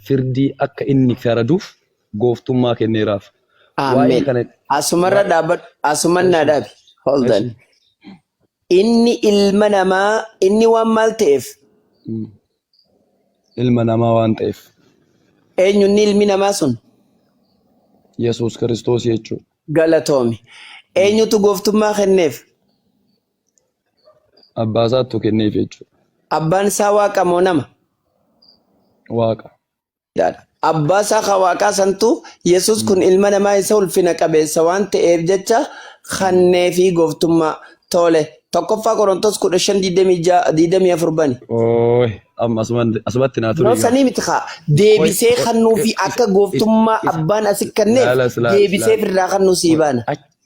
firdii akka inni faraduuf gooftummaa kenneeraaf. Waa'ee Amen. kana Asumarra waa'ee dhaabadhu. Asuman na eshi dhabi. Hold on. eshi Inni ilma namaa, inni waan maal ta'eef, mm, ilma namaa waan ta'eef eenyu inni ilmi namaa sun? Yesuus Kiristoos jechuudha. Galatoomi. Mm. Eenyutu gooftummaa kenneef? Abbaa isaattu kenneef jechuudha. Abbaan isaa waaqa moo nama? Waaqa. Daadha. Abbaa isaa ka waaqaa santu Yesus kun ilma namaa isa ulfina qabeessa waan ta'eef jecha kannee fi gooftummaa toole. Tokkoffaa Qorontos 15:24 bani. Ooy amma asuma- asumatti naa turii Yeroo sanii miti kaa deebisee Qoy- kannuu fi qoy- akka gooftummaa abbaan asi kenneef Laala, laala, deebisee laala. firraa kannuu sii baana.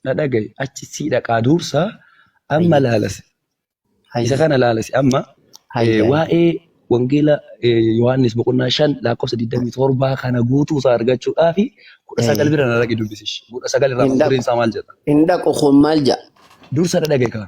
na dhaga'i achi sii dhaqaa duursa amma laalasi isa kana laalasi amma waa'ee wangeela Yohaannis boqonnaa shan lakkoofsa 27 kana guutuu isaa argachuudhaa fi kudha sagal bira na dhaqi dubbisish kudha sagal irraa mata dureen isaa maal jedha. Hin dhaqu kun maal jedha. Dursa na dhaga'i kaa.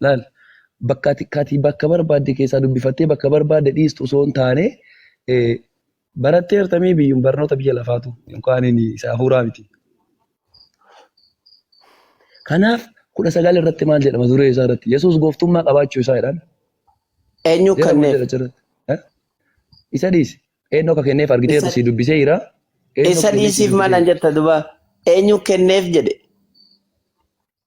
Laal, bakka ati kati bakka barbaadde keessaa dubbifattee bakka barbaadde dhiistu osoo hin taane baratteerta mee biyyuun barnoota biyya lafaatu yookaan isa hafuuraa miti. Kanaaf kudha sagal irratti maal jedhama duree isaa irratti Yesuus gooftummaa qabaachuu isaa jedhan. Eenyu Jara maal kanneef? jedha achirratti? Eh? Isa dhiisi. Eenyu akka kenneef argiteertu Isa- si dubbisee jira. Eenyu Isa akka kenneef si dhiisiif dubbisee malan jira. jetta duba eenyu kenneef jedhe.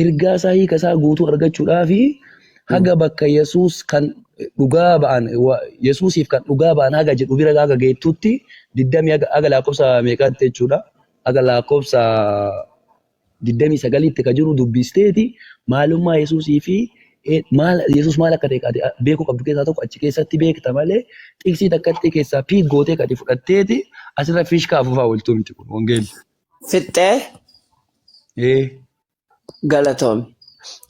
Ergaa isaa hiika isaa guutuu argachuudhaaf haga bakka Yesuus kan dhugaa ba'an Yesuusiif kan dhugaa ba'an haga jedhu bira haga geettutti diddamii haga lakkoofsa meeqaatti jechuudha haga lakkoofsa diddamii sagaliitti ka jiru dubbisteeti maalummaa Yesuusii fi maal Yesuus maal akka ta'e beekuu qabdu keessaa tokko achi keessatti beekta malee xiqsii takkatti keessaa piik gootee kati fudhatteeti asirra fiishkaa afufaa ooltuu miti kun wangeelli. fixxee Ee. galatoomi.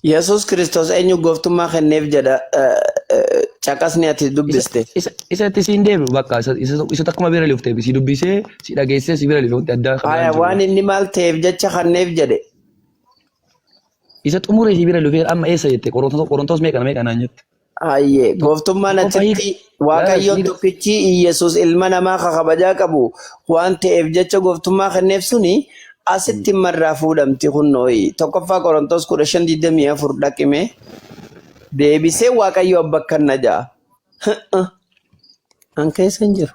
Yesuus Kiristoos eenyu gooftummaa kenneef jedha eh, eh, caqasni ati Isa, dubbiste. isa, isa itti siin deebi'u bakka isa, isa, isa takkuma bira lufte si dubbisee si dhageessee si bira lufte wanti addaa kan Aya biraan jiru waan bakka. inni maal ta'eef jecha kenneef jedhe. Isa xumuree si bira lufee amma eessa jette qorontoos meeqa meeqa naan jette. Hayyee Tokko gooftummaan qofa achitti hiika. Laala waaqayyoon hiika. tokkichi Iyyasuus ilma namaa ka kabajaa qabu waan ta'eef jecha gooftummaa kenneef suni asitti imma irraa fuudhamti kunnooyi. Tokkoffaa Qorontoos 15:24 dhaqime deebisee waaqayyo abba akkanna ja'a. An keessa hin jiru.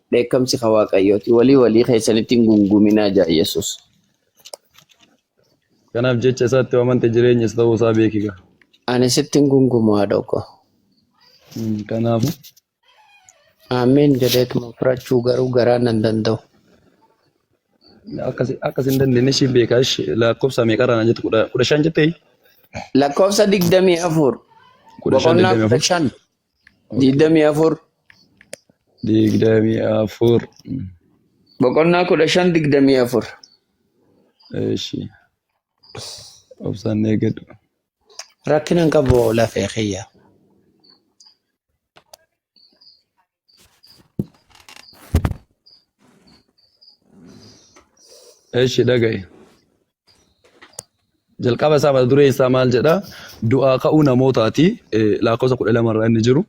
dheekkamsi ka waaqayyooti walii walii keessanitti hin gunguminaa jaa yesus Kanaaf jecha isaatti yoo amante jireenyas ta'uu isaa beekiga. ani sitti hin gungumu haadhoo koo Kanaaf aamiin jedheetuma fudhachuu garuu garaa nan danda'u akkas akkas hin dandeenye ishii beekaa ishii lakkoofsa meeqarraa na jette kudha kudha shan jettee lakkoofsa digdamii afur kudha shan boqonnaa digdamii kudha afur shan digdamii afur digdamii afur boqonnaa kudha shan digdamii afur eeshi obsaan eegadhu rakkina hin qabu lafee kiyya eeshi dhaga'i jalqaba isaa mata duree isaa maal jedha du'aa ka'uu namootaati eh, lakkoofsa kudha lama irraa inni jiru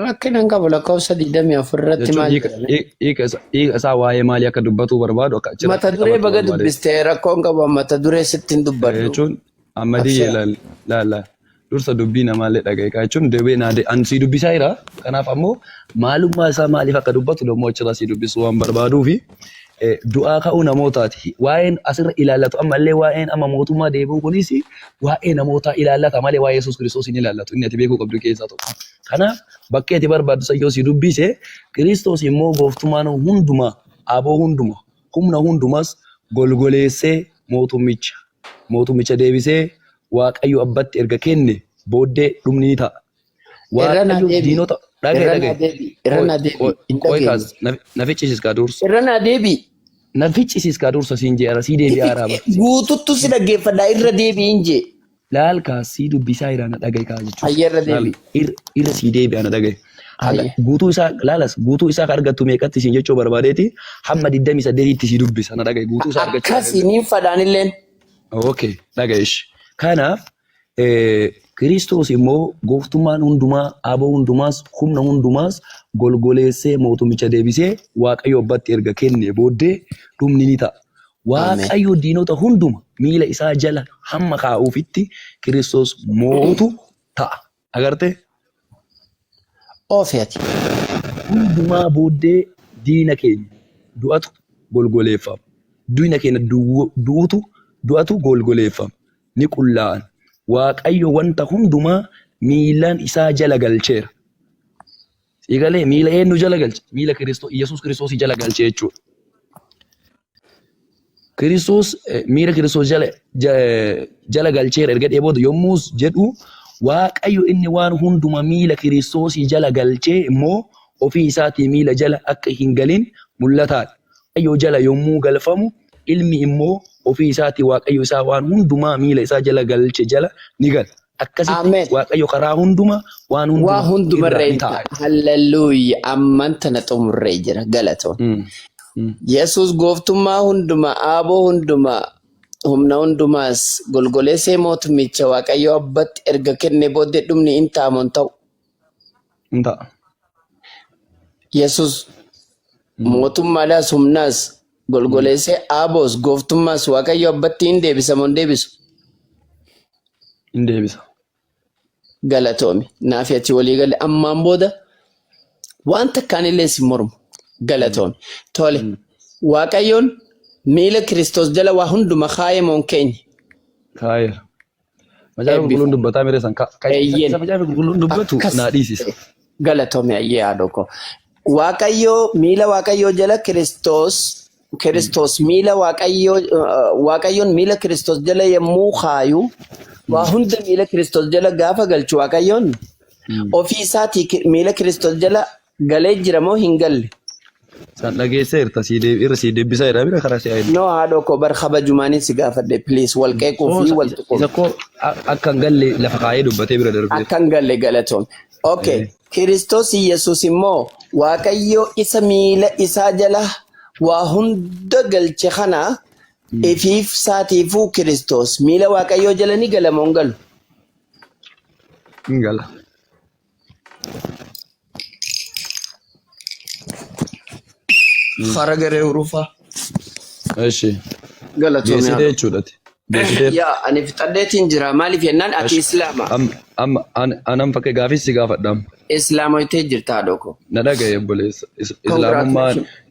Rakkina hin qabu lakkoofsa 24 irratti jechuun maal hiika jedhame? hiika- hiika isa- hiika isaa waa'ee maalii akka dubbatuu barbaadu akka achirratti Mata duree qabachuu baga barbaade dubbiste rakkoo hin qabu mata duree sitti hin Eh, dubbadhu. jechuun Amma deebi'ee Abshaa. laal laal laal. Dursa dubbii namaallee dhaga'i kaa jechuun deebi'ee naa de- an sii dubbisaa jira. Kanaaf ammoo maalummaa isaa maaliif akka dubbatu dammoo achirraa sii dubbisuu waan barbaaduu fi eh, du'aa ka'uu namootaati. Waa'een asirra ilaallatu ammallee waa'een amma mootummaa deebi'uu kunis waa'ee namootaa ilaallata malee waa'ee Yesuus Kiristoos hin ilaallatu. Inni ati beekuu qabdu keessaa tokko. Kanaaf bakkee ati barbaaddu san yoo sii dubbise Kiristoos immoo gooftummaan hundumaa, aboo hundumaa, humna hundumaas golgoleessee mootummicha Mootummicha deebisee Waaqayyo abbatti erga kenne booddee dhumni ni ta'a. Irra naa Waaqayyo deebi'i. diinota dhaga'i Irra naa dhaga'i. deebi'i. Irra Qoy naa deebi'i. qoy Hin qoy dhageenye. kaas na na ficcisiis kaa dursa. Irra naa deebi'i. Na ficcisiis kaa dursa siin je'ara sii deebi'aa haraa bar. Guututtu si dhaggeeffadha. Irra deebi'iin jee. Laal kaas sii dubbisaa iraa na dhaga'i kaa jechuusa. Hayya irra Laal deebi'i. ir irra sii deebi'aa na dhaga'i. Haga Hayyee. guutuu isaa laalas guutuu isaa ka argattu meeqatti siin jechuu barbaadeeti hamma 28tti sii dubbisa na dhaga'i guutuu isaa argachuu Akkasi dandeessa. niin fadhaan illeen. Okay, dhaga'i ishi. Kanaaf eh, Kiristoos immoo gooftummaan hundumaa, aboo hundumaas, humna hundumaas golgoleessee mootummicha deebisee Waaqayyo abbatti erga kennee booddee dhumni ni ta'a. Waaqayyo diinota hunduma miila isaa jala hamma kaa'uufitti Kiristoos mootu ta'a. agarte ofi ati hundumaa booddee diina keenya du'atu golgoleeffama diina keenya du'utu du'atu golgoleeffama ni qullaa'an waaqayyo wanta hundumaa miilaan isaa jala galcheera Siigalee miila eenyu jala galche? Miila Kiristoos, Yesuus Kiristoosii jala galche jechuudha. Kiristoos eh, miila Kiristoos jala, ja- eh, jala galcheera erga jedhee booda yommus jedhu Waaqayyo inni waan hunduma miila Kiristoosii jala galchee immoo ofii isaatii miila jala akka hin galin mul'ataadha. Waaqayyoo jala yommuu galfamu ilmi immoo ofii isaatii Waaqayyo isaa waan hundumaa miila isaa jala galche jala ni gala. Akkasitti Amen. Waaqayyo karaa hundumaa waan Waa hundumaa hunduma irra irra hin ta'a. ta'a. Halleluuya. Amman tana xumurree jira. Galatoon. Mm. Mm. Yesuus gooftummaa hundumaa, aaboo hundumaa, humna hundumaas golgoleessee mootummicha Waaqayyo abbatti erga kennee booddee dhumni hin ta'a moo hin ta'u? hin ta'a. Yesus Mm. mootummaadhaas humnaas golgoleessee aaboos gooftummaas Waaqayyo abbatti hin deebisa moo hin deebisu? Hin deebisa. Galatoomi. Naaf ati walii galle ammaan booda waan takkaan illee si mormu. Galatoomi. Tole. Mm. Waaqayyoon miila Kiristoos jala waa hunduma kaa'ee moon keenya. Kaa'eera. Macaafa qulqulluun Eebbifame. dubbataa miree san ka ka- isa Eeyyeen. isa macaafa qulqulluun dubbatu Akkas. naa dhiisisa. Galatoomi ayyee haadhoo koo. Waaqayyoo miila Waaqayyoo jala Kiristoos Kiristoos miila Waaqayyoo eh, Waaqayyoon miila Kiristoos jala yommuu kaayu waa hunda miila Kiristoos jala gaafa galchu Waaqayyoon ofii isaatii ki- miila Kiristoos jala Galee jira moo hin galle? San dhageessee irta sii deebi irra sii deebisaa jedhaa bira karaa si'aa hin. No haadhoo koo bar kabajumaanin si gaafadhe please wal qeequu Koo fi isa wal isa tuquu. koo a- akka hin galle lafa kaayee dubbatee bira darbee. Akkan galle galatoom. Okay. Eh. Kiristoos Yesuus immoo Waaqayyo isa miila isaa jala waa hunda galche kana ifiif saatiifuu Kiristoos miila Waaqayyoo jala ni gala moo hin galu? Hin gala. Fara garee urufaa. እሺ Galatoomii. geessite jechuudha ati geessite Yaa ani fixadheetiin jira maaliif jennaan ati እሺ islaama am- amma an- anan fakkee gaafii si gaafadhaam islaama itee jirta haadhoo koo. na dhagaye obboleessa Is- islaamummaan Congratulations.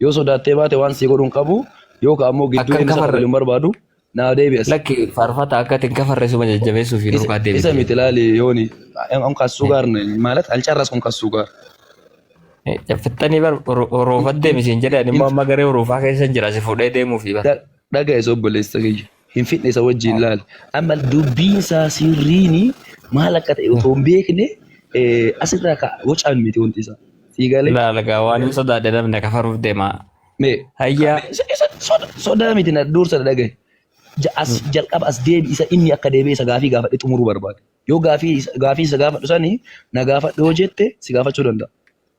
Yoo sodaattee baate waan sii godhuun qabu yookaan ammoo gidduu Akkan inni isa kafarre. kafalu hin barbaadu naa deebi'as. Lakki faarfata akka itti hin kafarre suma jajjabeessuuf hin Isa rukaa isa deebite. miti laali yooni am kassuu gaar maalat alcarras kun kassuu gaar. Fixxanii bar horoofat deemisiin jedhe ani immoo amma garee horoofaa keessa jira si fuudhee deemuufi bar. Dhaga'es obboleessa kiyya. hin fidne isa wajjin laali. Amma dubbiin isaa sirriin maal akka ta'e otoo hin beekne asirraa ka wacaan miti wanti isaa. Sii galee. Laala gaa waan hin sodaadhe namni kafaruuf deemaa. Mee. Hayyaa. Sodaa miti na dursa na dhagahe. As jalqaba as deebi isa inni akka deebi'e isa gaafii gaafadhe xumuruu barbaade. Yoo gaafii gaafii isa gaafadhu sani na gaafadhu yoo jette si gaafachuu danda'a.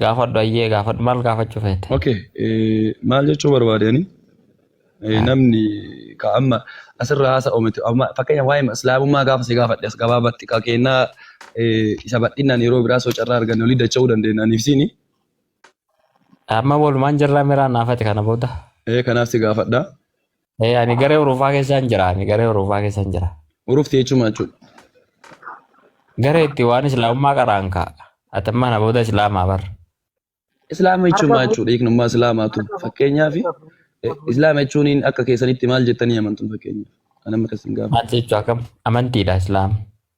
Gaafadhu ayyee gaafadhu maal gaafachuu feete? Okay, eh, maal jechuu barbaadani? Eh, namni ka amma asirra haasa'u miti. Amma fakkeenya waa'ee islaamummaa gaafa si gaafadhe as gabaabatti ka kennaa eh, isa bal'inaan yeroo biraa soo carraa arganne olii dacha'uu dandeenya aniif siini. Amma walumaan jirraa miraa naafati kana booda. Eh, kanaaf si gaafadha. Eh, ani garee Urufaa keessaan jira. Ani garee Urufaa keessaan jira. Urufti jechuun maal jechuudha? Garee itti waan Islaamummaa qaraan kaa. Atammaan abooda Islaamaa bar. Islaama jechuun maal jechuudha? Hiiknummaa Islaamaatu. Fakkeenyaaf eh, Islaama jechuun akka keessanitti maal jettanii amantu fakkeenyaaf? Kan amma keessan gaafa. Maal jechuu akkam? Amantiidha Islaam.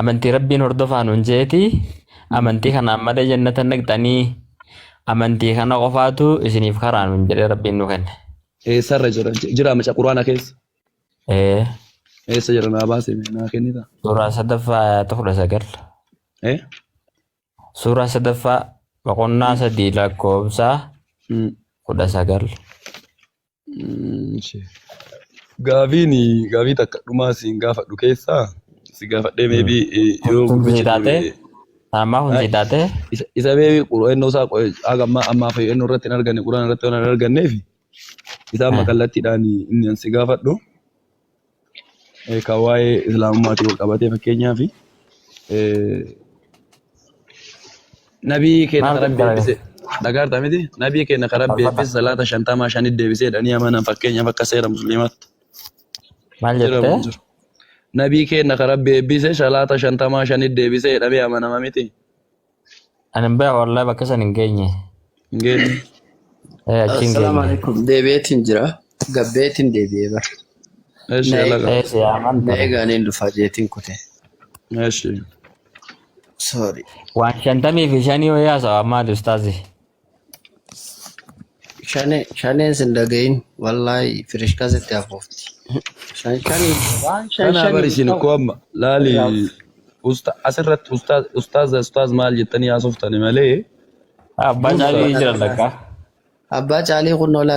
Amantii Rabbiin hordofaa nuun jeeti. Amantii kanaan malee jannata hin dhaqxanii. Amantii kana qofaatu isiniif karaa nuun jedhee Rabbiin nu kenne. Eessarra jira? Jira maca Quraana keessa? Ee, Eessa jira naa baasee naa kennita? suuraa sadaffaa ayata kudha sagal. Eh? Suuraa sadaffaa boqonnaa sadii lakkoofsa Mm. kudha sagal. Gaafiin gaafii takka dhumaa siin gaafadhu keessaa si gaafadhee meebii yoo Kun gurbichi taate deebi'e. Ammaa kun Ay, taate Isa isa meebii qura'annoo isaa qo'e haga ammaa ammaa fayyadannoo irratti hin arganne quraan irratti waan hin arganneef isaan Ah. makallattiidhaan inni an si gaafadhu. kan waa'ee islaamummaatiin wal qabatee fakkeenyaaf nabii keenya kan rabbi eebbise dhagaarta miti nabii keenya kan rabbi eebbise salaata shantamaa shanit deebisee jedhanii amanan fakkeenyaaf akka seera musliimaatti Maal jira jettee? jiru. Nabii keenya kan rabbi eebbise salaata shantamaa shanit deebisee jedhamee amanama miti. Ani hin beeku wallahi bakka san hin geenye. Hin geenye. Eh, achi hin Assalaamu geenye. alaikum. Deebi'eetiin jira. Gabbeetiin deebi'ee bara. Eeshi Na alaga. Eh, si yaaman na ture. eegaaniin dhufaa jeetiin kute. Eeshi. Sorry. Waan shantamii fi shanii wayii haasawa ammaati ustaazi. Shane shaneen sin dhagahin wallahi firishkaa sitti hafuufti. Shan shanii waan shan Kana shanii bari isin ta'u koo amma laali irraa usta asirratti ustaaz ustaaz ustaaz maal jettanii haasoftani malee Abbaa dursa caalii jira Abbaa takka. Abbaa caalii kun nola